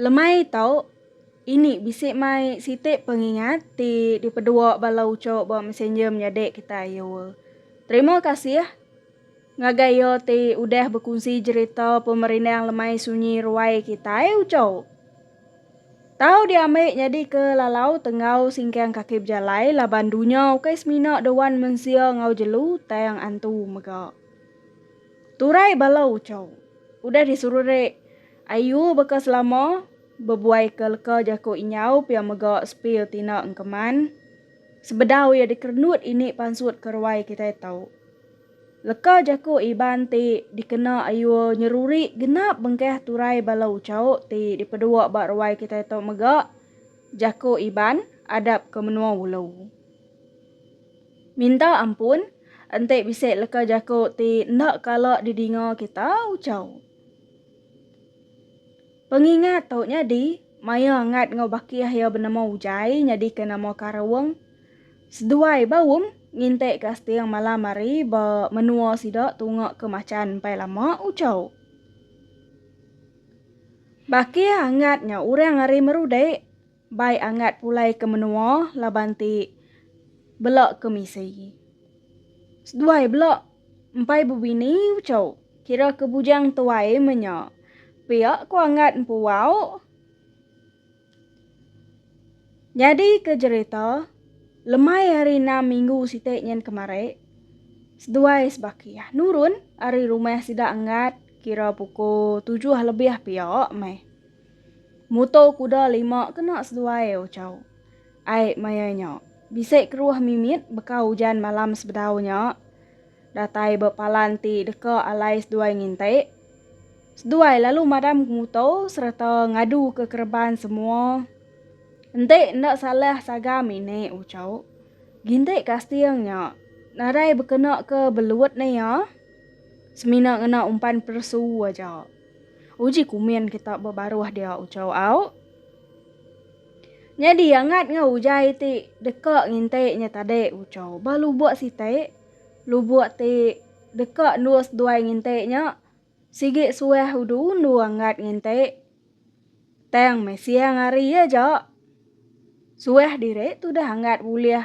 Lemai tu, ini bisi mai siti pengingat ti dipedua bala uchu ba Messenger menyadi kitai ayu. Terima kasih ngagai iya ti udah bekunsi jerita pemerindang lemai sunyi ruai kitai uchu. Tau diambi nyadi ke lalau tenggau singkang kaki bejalai laban dunya ukai semina dewan mensia enggau jelu tang antu mega. Turai bala Uchau. Udah disururik Ayu baka selama, bebuaika leka jaku Inyau pia mega Sepil Tina Engkeman. Sebedau iya dikerenut ini pansut ke ruai kitai tau. Leka jaku Iban ti dikena Ayu nyeruri genap bengkah turai bala Uchau ti dipedua ba ruai kitai tau mega, Jaku Iban, Adap ke Menua Ulu. Minta ampun, enti bisi leka jaku ti enda kala didinga kita ucau. Pengingat tu nyadi maya Ngat enggau Bakih iya benama Ujai nyadika nama Karung. Seduai ba um ngintik ka seting malam hari ba menua sida tunga ke Machan empai lama ucau. Bakih angat nya orang ari Merudik. Bai angat pulai ke menua laban ti bela ke misi. Seduai bela empai bebini uchu kira ke bujang tuai menya. Pia ko angat empu wau. Nyadi ke jerita lemai hari enam minggu siti nyen kemari seduai sebaki nurun ari rumah sida angat kira pukul tujuh lebih pia meh. Muto kuda lima kena seduai ochau. Ai maya nya, bisi keruh mimit beka ujan malam sebedau nya datai ba palan ti deka alai seduai nginti. Seduai lalu madam ke muto sereta ngadu ke kereban semua. Enti enda salah sagam ini ochau, ginti kasting nya nadai bekena ke belut ne iya, semina ngena umpan peresu aja. Uji kumin kita bebaruh dia ucau au. Nyadi angat ngau ujai ti deka nginti nya tadi ucau ba lubuk siti. Lubuk ti deka endus duai nginti nya sigi suah udu-undu angat nginti. Tang meh siang hari iya ja. Suah diri tudah anggat bulih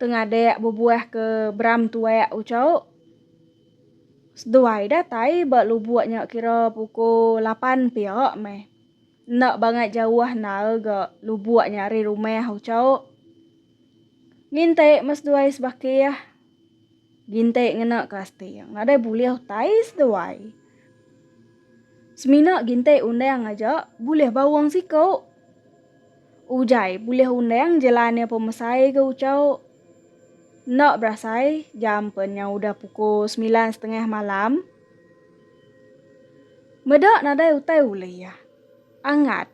tengadik bebuah ke beram tuak ucok. Seduai datai ba lubuk nya kira pukul lapan pia meh. Enda bangat jauh endar ga lubuk nya ari rumah ucok. Ngintik meh seduai sebakih. Gintik ngena kasting. Nadai bulih utai seduai. Semina gintik undang aja bulih baung siku. Ujai bulih undang jelan iya pemesai ke ucau. Enda berasai jam pen nya udah pukul semilan setengah malam. Meda nadai utai ulih iya. Angat.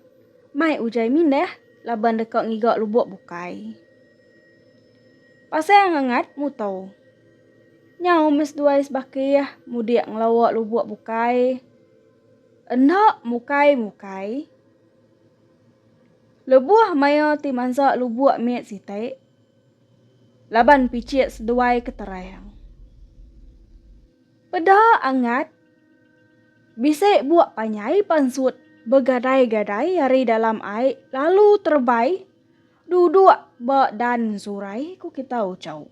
Mai ujai mindah laban deka ngiga lubuk bukai. Pasai Angangat muto. Nyau meh seduai sebakih mudik ngelawa lubok bukai. Enda mukai-mukai. Lebuh maya ti mansa lubok mit siti, laban pichit seduai ke terang. Peda Angat bisi buk panyai pansut begadai-gadai ari dalam ai lalu terebai. Duduk ba dan surai ku kita Uchau.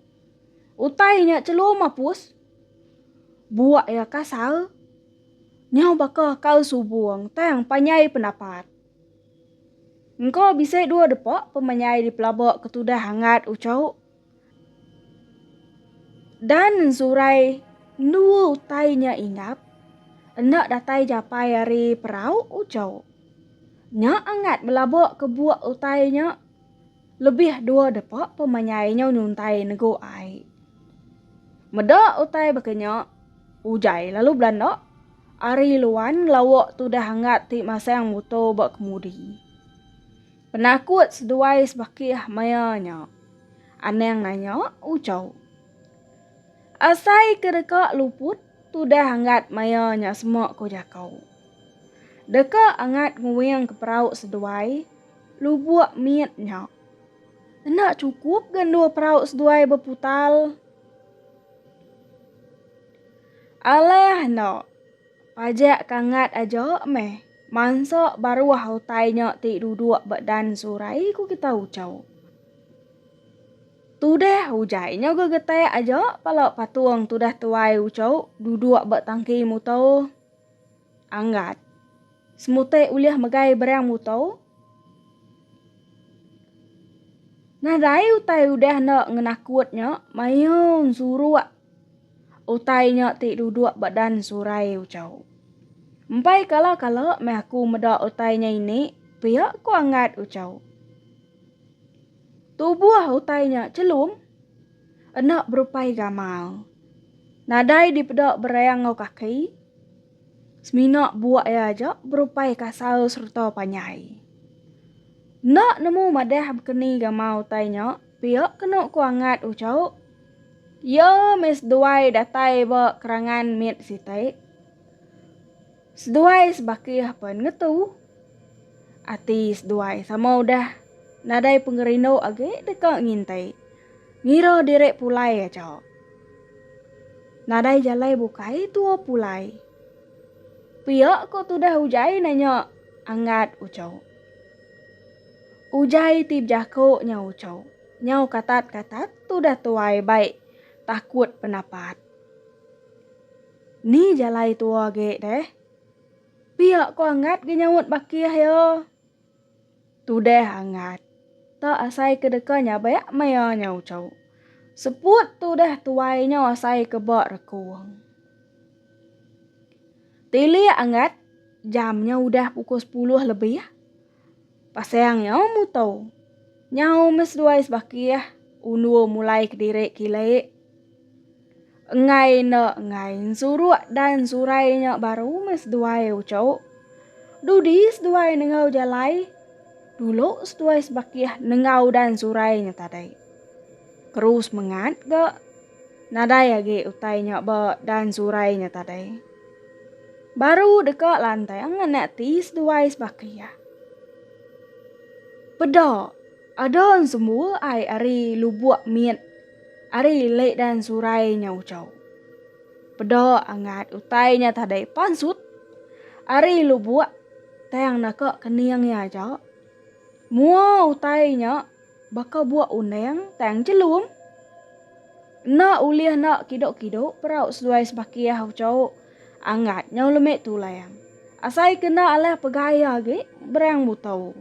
Utai nya chelum apus. Buak iya kasar. Nyau baka kal subung tang panjai pendapat. Engka bisi dua depa pemanyai dipelaba ketudah angat Uchau Dan nsurai endua utai nya ingap, enda datai japai ari perau ujau. Nya angat belaba kebuk utai nya lebih dua depa pemanyai nyau nyuntai negu ai. Meda utai baka nya, ujai lalu belanda ari luan ngelawa tudah angat ti masang muto ba kemudi. Penakut seduai sebakih maya nya. Anang nanya Uchau. Asai ke deka luput tudah anggat maya nya sema ko Jakau. Deka anggat nguing ke perau seduai lubuk mit nya. Enda cukup ga endur perau seduai beputal. Alah enda. Pajak kangat aja meh. Mansa baruah utai nya ti duduk ba dan surai ku kita ucau. Tudah ujai nya gegetak aja pala patung tudah tuai ucau duduk ba tangki muto anggat. Semutai ulih megai berang muto. Nadai utai udah enda ngenakut nya mayung suruk. Utai nya ti duduk ba dan surai Uchau. Empai kala-kala meh aku meda utai nya ini, pia ku Angat Uchau. Tubuh utai nya chelum enda berupai gamal. Nadai dipeda bereng enggau kaki. Semina buak iya aja berupai kasar sereta panjai. Enda nemu madah bekeni gamal utai nya, pia kenu ku Angat uchau. Iya meh seduai datai ba kerangan mit siti. Seduai sebakih pen ngetu. Ati seduai sama udah nadai pengerindu agi deka ngintai. Ngira diri pulai aja. Nadai jalai bukai tua pulai. Pia ko tudah Ujai nanya Angat Ucho. Ujai ti bejako nya Ucho. Nyau katat-katat tudah tuai bai takut penapat. Ni jalai tua agi deh. Pia ko Angat ga nyaut bakih iya. Tudah Angat. Tak asai ke deka nyabak maya nya ucau. Seput tudah tuai nya asai ke ba rekung. Tilik Angat, jam nya udah pukul sepuluh lebih. Pasang nyau muto. Nyau meh seduai sebakih undur mulai kediri kile. Enggai enda enggai ensuruk dan surai nya baru meh seduai uco. Dudi seduai nengau jalai dulu seduai sebakih nengau dan surai nya tadi. Keru semengat ga. Nadai agi utai nya ba dan surai nya tadai. Baru deka lantai anganak ti seduai sebaka iya. Peda ada sembua ai ari lubuk mit ari lek dan surai nya ucau. Peda angat utai nya tadai pansut ari lubuk tang naka kening iya aja. Mua utai nya. Baka buak undang tang chelum. Enda ulih enda kido-kido perau seduai sebakih ucau Anggat nyau lemi tulang. Asai ke enda alah pegai agi berang muto.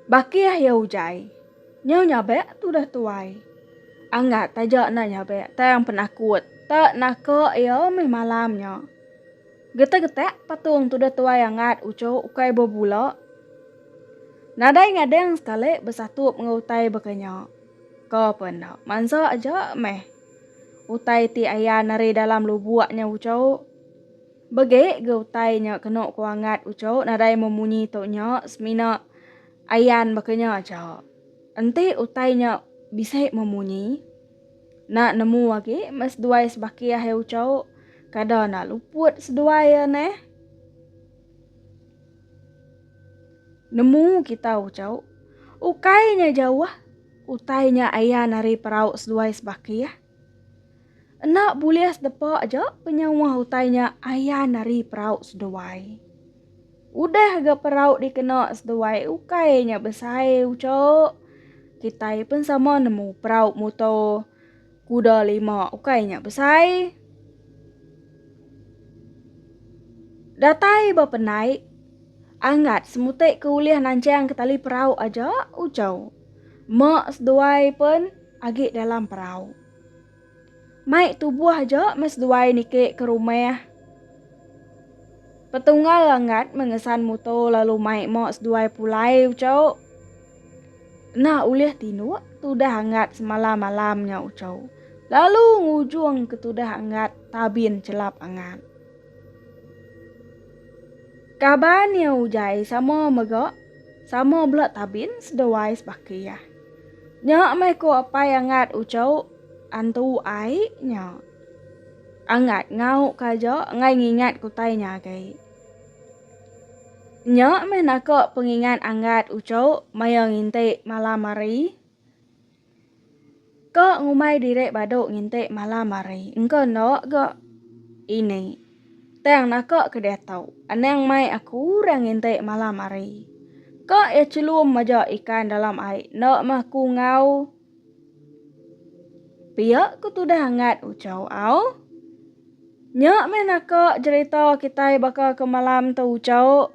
Bakih iya ujai. Nyau nyabak tudah tuai. Anggat taja enda nyabak tang penakut tak naka iya meh malam nya. Getak-getak patung tudah tuai angat uchoh ukai bebula. Nadai ngadang sekali besatup enggau utai baka nya. Ko pun enda, mansa aja meh utai ti ayan ari dalam lubuk nya uchoh. Begi ga utai nya kenu ko angat uchoh nadai memunyi tu nya semina ayan baka nya aja. Enti utai nya bisi memunyi. Enda nemu agi meh seduai sebaki akhir ucau. Kada enda luput seduai iya neh. Nemu kita ucau. Ukai nya jauh, utai nya ayan ari perau seduai sebaki. Enda bulih sedepa aja penyawa utai nya ayan ari perau seduai. Udah ga perau dikena seduai ukai nya besai ucha. Kitai pun sama nemu perau muto kuda lima ukai nya besai. Datai ba penai angat semutai ke ulih nanchang ke tali perau aja ucha. Mak seduai pun agi dalam perau. Mai tubuh aja meh seduai niki ke rumah. Petunggal Langat mengesan muto lalu mai mo seduai pulai ucau. Nah ulih tinduk tudah angat semalam malam nya ucau. Lalu ngujung ke tudah angat tabin celap angat. Kaban iya ujai sama mega sama bela tabin seduai sebaki iya. Nya meh ku apai Angat ucau antu ai nya. Angat ngau ka aja enggai ngingat ku utai nya agai. Nya meh naka pengingat Angat ucau maya nginti malam hari. Ka ngumbai diri badu nginti malam hari engka enda ga ini. Tang naka ke deh tau. Anang mai aku orang nginti malam hari. Ka iya chelum maja ikan dalam ai enda meh ku ngau pia ku tudah angat uchau au. Nya meh naka jerita kitai baka ke malam tu uchauk.